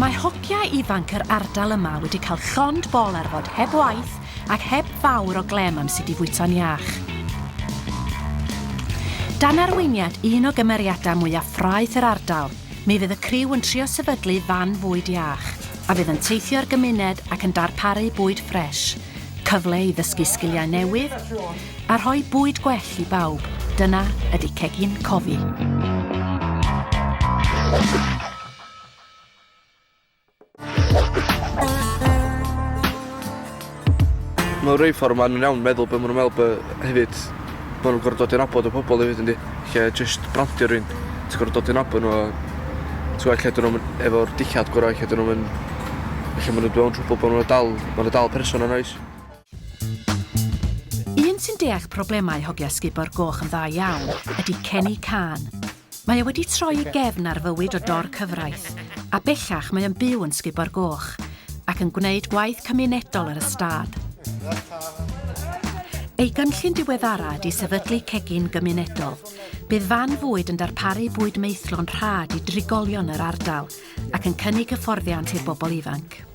Mae hociau ifanc yr ardal yma wedi cael llond bol ar fod heb waith ac heb fawr o glem am sut i fwyto'n iach. Dan arweiniad un o gymeriadau mwyaf ffraeth yr ardal, mi fydd y criw yn trio sefydlu fan fwyd iach, a fydd yn teithio'r gymuned ac yn darparu bwyd ffres, cyfle i ddysgu sgiliau newydd, a rhoi bwyd gwell i bawb, dyna ydy Cegin Cofi. Mae'n rhoi ffordd maen nhw'n iawn meddwl beth maen nhw'n meddwl beth hefyd maen nhw'n gorfod dod i'n abod o pobl hefyd yndi. Lle just brandio rhywun, ti'n gorfod dod i'n abod nhw a ti'n gweld lle dyn nhw'n efo'r dillad gorau, lle dyn nhw'n lle maen nhw'n dweud trwbl bod nhw'n dal, maen nhw'n dal person yn oes. Un sy'n deall problemau hogia sgubor goch yn dda iawn ydy Kenny Cân. Mae e wedi troi ei gefn ar fywyd o dor cyfraith, a bellach mae o'n byw yn Sgubor Goch, ac yn gwneud gwaith cymunedol ar y stad. Ei gynllun diweddara ydy sefydlu cegin gymunedol. Bydd fan fwyd yn darparu bwyd meithlo'n rhad i drigolion yr ardal, ac yn cynnig hyfforddiant i'r bobl ifanc.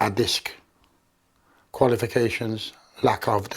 addysg, qualifications, lack of 'de.